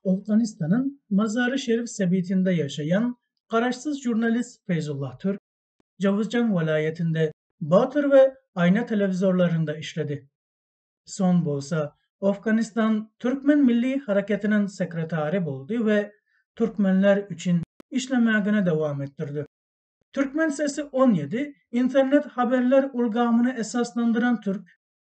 Owganystanyň Mazary-Şerif sebitinde ýaşaýan garaşsyz žurnalist Feýzullah Türk Jowuzjan welaýatynda Batyr we Aýna telewizorlarynda işledi. Soň bolsa Owganystan Türkmen milli haraketiniň sekretary boldy we türkmenler üçin işlemegini dowam etdirdi. Türkmen sesi on ýedi internet haberler ulgamyny esaslandyran türk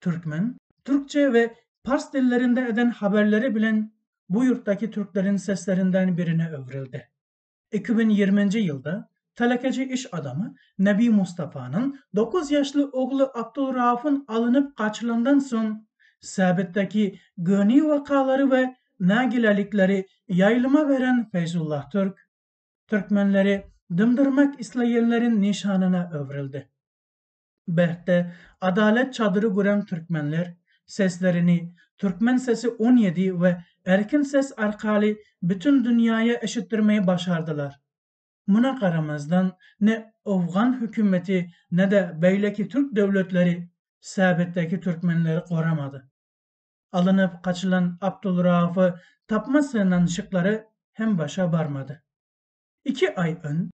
türkmen, türkçe we pars dillerinde eden habarlary bilen bu ýurtdaky türkleriň seslerinden birine öwrüldi. Iki müň ýigriminji ýylda telekeçi iş adamy Nebi Mustafanyň dokuz ýaşly ogly Abdulraufyň alynyp gaçylandan soň, sebitdäki göni wakalary we nägilelikleri ýaýlyma beren Feýzullah Türk, türkmenleri dymdyrmak isleýänleriň nyşanyna öwrüldi. Bähde, Adalet çadyry gurän türkmenler, seslerini Türkmen sesi on ýedi we Erkin ses arkaly bütin dünýäýe eşitdirmegi başardylar. Muna garamazdan, ne owgan hökümeti, ne-de beýleki türk döwletleri sebitdäki türkmenleri goramady. Alynyp gaçylan Abdulraufy tapma synanyşyklary hem başa barmady. Iki aý öň,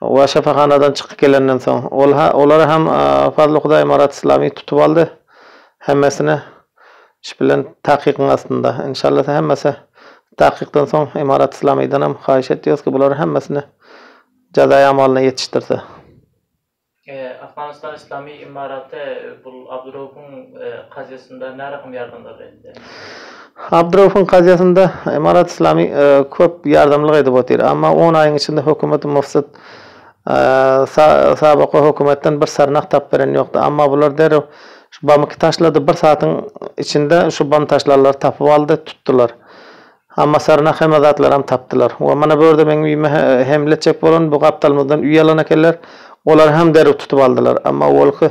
Howa şypahanadan çykyp gelenden soň. Ol ha, olar hem Fazly Hudaý Marat Islamiý tutup aldy. Hemmesini iş bilen takykyň astynda. Enşalla sen hemmesi takykdan soň Marat Islamiýdan hem haýyş etýäris ki bular hemmesini jazaýy amalyna ýetişdirse. Afganistan Islamiý Imaraty bul Abduraupyň kazyýasynda närakam ýardam berdi? Abdyraufyň kazyýetinde Emarat Islami köp ýardamlyk edip otyr, amma on aýyň içinde hökümet Mufsyt Sabaka hökümetden bir syrnak tap beren ýokdy, amma bular derrew şu bamyky taşlady, bir saatyň içinde şu bam taşlanlary tapyp aldy, tutdylar. Amma syrnak hemme zatlaram tapdylar. We mana bu ýerde meň öýüme hemle etjek bolan bu gapdalymyzdan üý alan ekenler, olaram derrew tutup aldylar, amma ol ki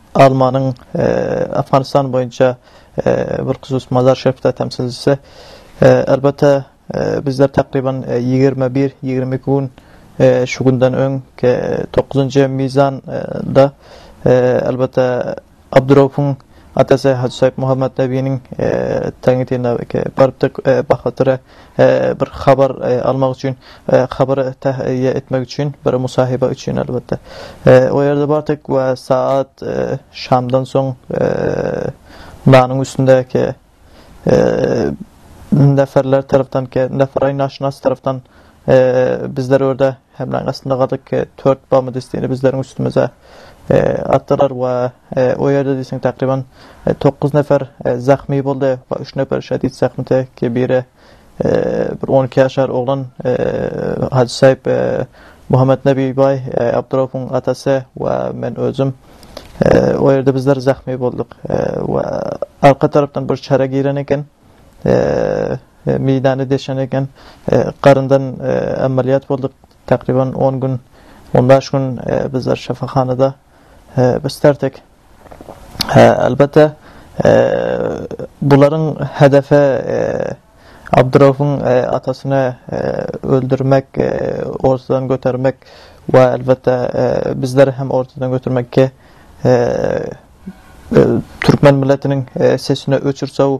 Almanyň Afganistan boýunça bilhusus Mazar-Şerifdäki temsilçisi, Elbetde, bizler takryban ýigrimi bir, ýigrimi iki gün, şu günden öň, dokuzynjy mizan, da, elbetde, Abduraufuň atasy Hajy Soýupmuhammet Nebiniň teňňitine barypdyk, Bahatyra bir habar almak üçin habar tähýe etmek üçin bir musahyba üçin elbetde o ýerde bardyk we saat şamdan soň nanyň üstündäki neferler tarapdan neferay naşynas tarapdan bizler orada Hemraň astynda gadyk Tört Bamy distini bizleriň üstümize atdylar we o ýerde diýseň takryban dokuz nefer zahmi boldy we üç neper şedid zahmi çekdi. Biri bir on iki ýaşar oglan Hajy Saýyp Muhammetnebi baý Abdyraufuň atasy we men özüm o ýerde bizler zahmi bolduk we arka tarapdan bir çara giren eken. Meýdany deşen eken. Garyndan amalýat bolduk. Takriban on gün, on bäş gün bizler şypahanada beslerdik. Elbetde, bularyň hedefi Abdyraufuň atasyny öldürmek, ortadan götermek we elbetde bizleri hem ortadan götermekki türkmen milletiniň sesini öçürsew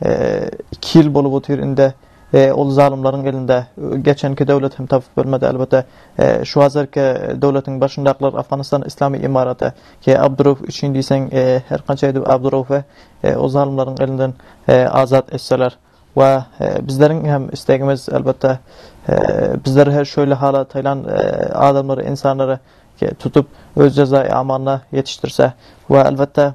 2 ýyl bolup otyr indi. Ol zalymlaryň elinde geçenki döwlet hem tapyp bilmedi elbetde. Şu hazirki döwletiň başyndakylar Afganistan Islamy Imaraty ýa Abdurauf üçin diýseň her kança edip Abduraufy o zalymlaryň elinden azat etseler we bizleriň hem islegimiz elbetde bizler he şöýle hala taýlan adamlary insanlary tutup öz jezaýy amalyna ýetişdirse we elbetde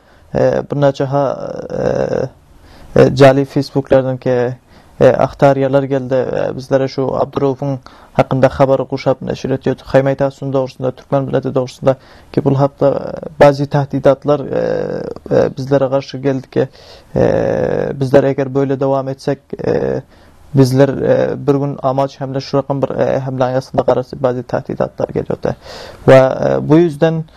e, bir näçe ha e, e, jali facebooklardaky e, aktarýalar geldi. E, bizlere şu Abdurowyň hakynda habary guşap neşir etýärdi. Haýmaýtasun dogrusynda, türkmen milleti dogrusynda ki bul hakda e, bazi tahdidatlar e, e, bizlere garşy geldi ki e, bizler eger böyle dowam etsek e, bizler e, bir gün amaç hemle şu rakam bir e, hemle aýasynda garasy bazi tahdidatlar gelýärdi. Ve e, bu ýüzden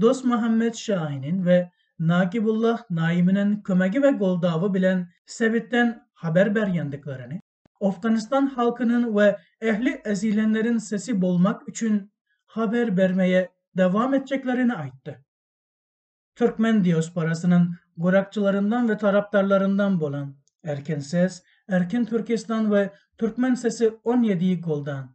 Dosmuhammet Şainin we Nagibullah Naiminiň kömegi we goldawy bilen sebitden habar berýändiklerini, Owganystan halkynyň we ähli ezilenleriň sesi bolmak üçin habar bermegi dowam etjeklerini aýtdy. Türkmen diasporasynyň gurakçylaryndan we tarapdarlaryndan bolan Erkin ses, Erkin Türkistan we Türkmen sesi on ýedi goldan,